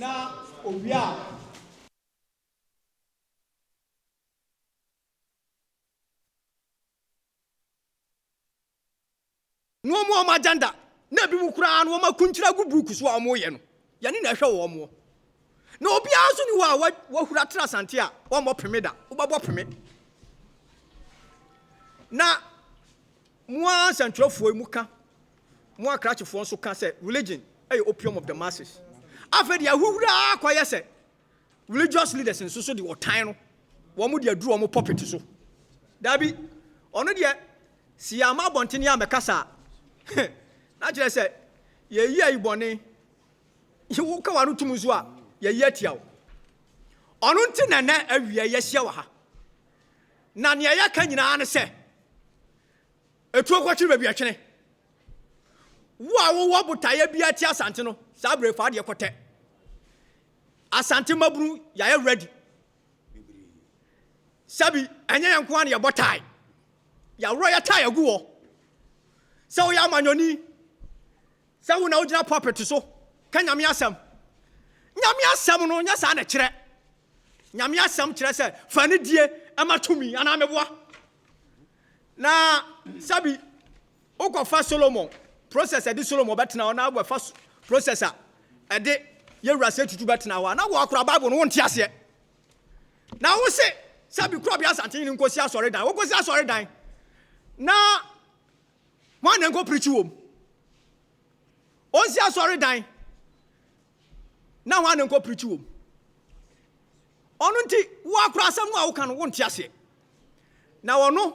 na owie a. Wɔn a wɔn agenda na ebinom koraa no wɔakuntire agu buuku so a wɔyɛ no. Yɛne na ɛhwɛ wɔn mo. Na obiara nso ni hɔ a wahura tra sante a ɔmmɔ peme da. Wobɛbɔ peme. Na mo ara nsɛntwerɛfoɔ yi mo ka, mo akrakyefoɔ nso ka sɛ religion ɛyɛ opium of the masses. Afei deɛ ahohura ara kɔyɛ sɛ Religious leaders nso so de ɔtan no, wɔn de aduru wɔn pulpit so. Dabi, ɔno deɛ, si yɛ ama abɔntene a mɛkasa a, na kyerɛ sɛ yɛyi ayi bɔne. Woka w'ano tum nso a, yɛyi atia wo. Ɔno nti na nɛ awia yɛahyia wɔ ha. Na nea yɛka nyinaa ne sɛ, etuo kɔtwene baabi ɛtwene. Wo a wowɔ botaeɛ bi ate asante no, saa berɛ fa adeɛ kɔtɛ. Asante mmabunu yɛayɛ ready sɛbi ɛnyɛ yɛn nko ara na yɛbɔ tae yɛaworɔ yɛ tae agu hɔ sɛ woyɛ amanyɔni sɛ wo na wogyina pulpit so ka nyame asɛm nyame asɛm no nyɛ saa na kyerɛ nyame asɛm kyerɛ sɛ fa ne die ɛma tumi anaa meboa na sɛbi Wo kɔ fa Solomon process ɛde Solomon bɛtena hɔ na wo bɛ fa process a ɛde yɛwura sɛ tutu bɛtena hɔ a na wo akora bible no wo nte aseɛ na wo se sɛ bi kura bi asante yi nkosi asɔre dan wo kosi asɔre dan na mo anan ko pirikyi wom onsi asɔre dan na ho anan ko pirikyi wom ɔno nti wo akora asɛm no a wo kan wo nte aseɛ na ɔno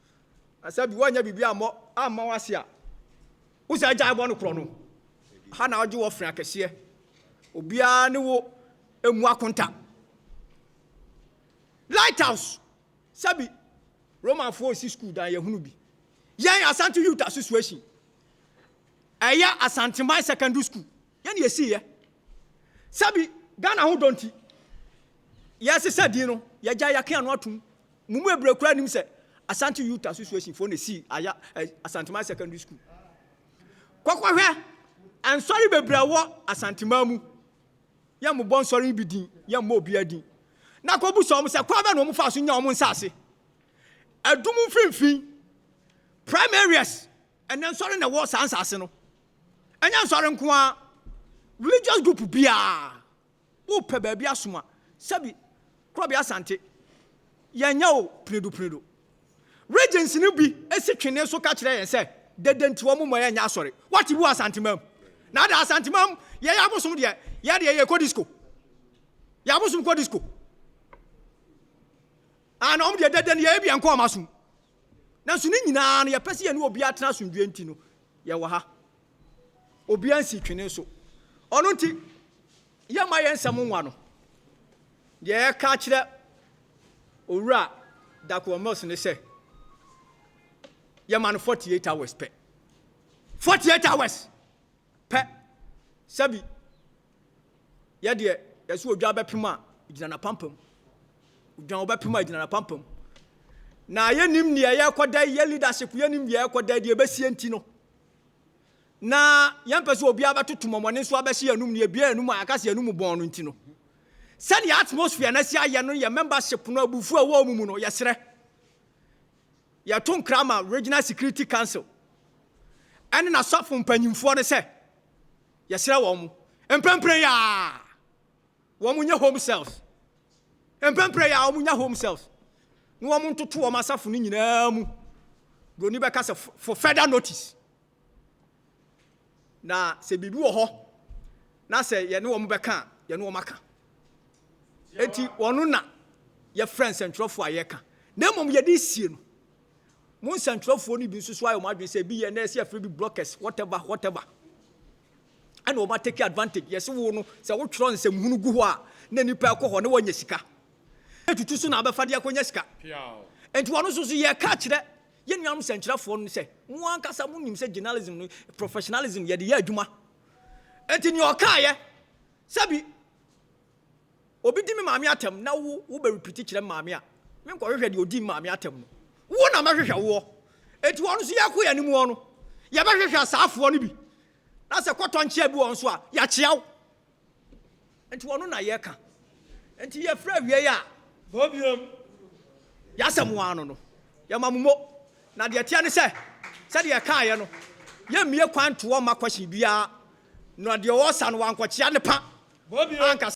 Na sɛ bi wɔnyɛ biribi ammɔ amma wo ase a, wo sɛ agyae bɔ no korɔ no. Ɛha na ɔgye wɔ fre akɛseɛ. Obiara ne wo mmu akonta. Lighthouse, sɛbi Romanfoɔ resi sukuu dan yɛhunu bi. Yɛn Asante Youth Association, ɛyɛ Asanteman Secondary School, yɛn na yɛsiiɛ. Sɛbi Ghana ho dɔ nti, yɛsesa din no, yɛgyae yɛake ano atom. Mo mu bebree koraa nim sɛ Asante Utah Association foɔ na esii Aya eh, Asanteman Secondary School. Kɔkɔhwɛ nsɔre bebree a ɛwɔ Asanteman mu. Yɛn mo bɔ nsɔre bi din, yɛn mo obiara din. Na kɔbu sɛ wɔn sɛ kwan bɛ na wɔn fa so nya wɔn nsaase. Ɛdum mfimfini, prime areas, ɛnɛ nsɔre na ɛwɔ saa nsaase no. Ɛnyɛ nsɔre nko ara, religious group biara. Wopɛ baabi asom a, sɛbi Korɔbea Asante, yɛnyɛ o, Pinedu Pinedu. Regents no bi si twene so ka kyerɛ yɛn sɛ dɛdɛ nti wɔn mma yɛnyɛ asɔre. Wate bu Asanteman? Na ada Asanteman yɛn abosom deɛ yɛ deɛ yɛkɔ disco. Yɛn abosom kɔ disco. Ah, na wɔn deɛ dɛdɛ no yɛyɛ bi yɛnkɔ wɔn asom. Nanso ne nyinaa no, yɛpɛ sɛ yɛne obiara tena asomdwoeɛ nti no, yɛwɔ ha. Obiara nsi twene so. Ɔno nti, yɛmma yɛn nsɛm nwa no. Deɛ yɛka kyerɛ Owura Dakoa Mills ne sɛ, yɛma no 48 hours pɛ. 48 hours pɛ. Sɛbi Yɛ deɛ yɛsɛ odwan bɛpem a, gyina n'apampam. Odwan wobɛpem a, gyina n'apampam. Na yɛnim deɛ yɛrekɔda yi, yɛ leadership yɛnim deɛ yɛrekɔda yi, deɛ ɛbɛsie nti no. Na yɛmpɛ sɛ obiara bɛtoto mɔmɔne nso abɛhyɛ yɛn anum, deɛ ebia yɛn anum a yɛaka sɛ yɛn anum bɔn no nti no. Sɛdeɛ atmosphere no asi ayɛ no, yɛ membership no abufuo a ɛwɔ wɔn mu no, yɛsrɛ. Yɛto nkra ma Regional Security Council ɛne n'asɔfo mpanyimfoɔ no sɛ, Yɛsrɛ wɔn mprempren yi ara wɔnyɛ home cells, mprempren yi ara wɔnya home cells na wɔn ntoto wɔn asafo no nyinaa mu. Broni bɛka sɛ for further notice. Na sɛ biribi wɔ hɔ na sɛ yɛne wɔn bɛka a, yɛne wɔn aka. Enti wɔn na yɛfrɛ nsɛntwerɛfoɔ a yɛka na mmom yɛde sie no. Mo nsɛntwerɛfoɔ no bi nso so ayɛ wɔn adwene sɛ ebi yɛ na ɛsɛ yɛfrɛ bi blockers whatever whatever ɛna wɔn atake advantage yɛse wo no sɛ wotwerɛ nsɛmhunu gu hɔ a na nipa ɛkɔ hɔ na wɔanya sika ɛtutu so na abɛfa de akɔnya sika nti wɔn nso so yɛka akyerɛ yɛn nuanom sɛnkyerɛfoɔ no sɛ mo ankasa mo nim sɛ journalism no professionalism yɛde yɛ adwuma nti nea ɔkaeɛ sɛbi Obi di me maame atɛm na wo wo bɛ repeat kyerɛ me maame a, me nkɔ hwehwɛ deɛ odi me maame atɛm no. Wo na mɛhwehwɛ woɔ. Eti wɔn nso yɛkɔ yɛn anim wɔn no, yɛbɛhwehwɛ asaafoɔ no bi. Na sɛ kɔtɔ nkyea bi wɔn nso a, yɛakyea wo. Enti wɔn na yɛka. Enti yɛfrɛ awie yɛ a, bɔbiam yɛasɛm wɔn ano no, yɛma mo mo. Na deɛ teɛ ne sɛ, sɛdeɛ yɛkaeɛ no, yɛmmie kwan ntoɔ mma question biara. Na deɛ ɔresa no wankɔkyea ne pa ankasa.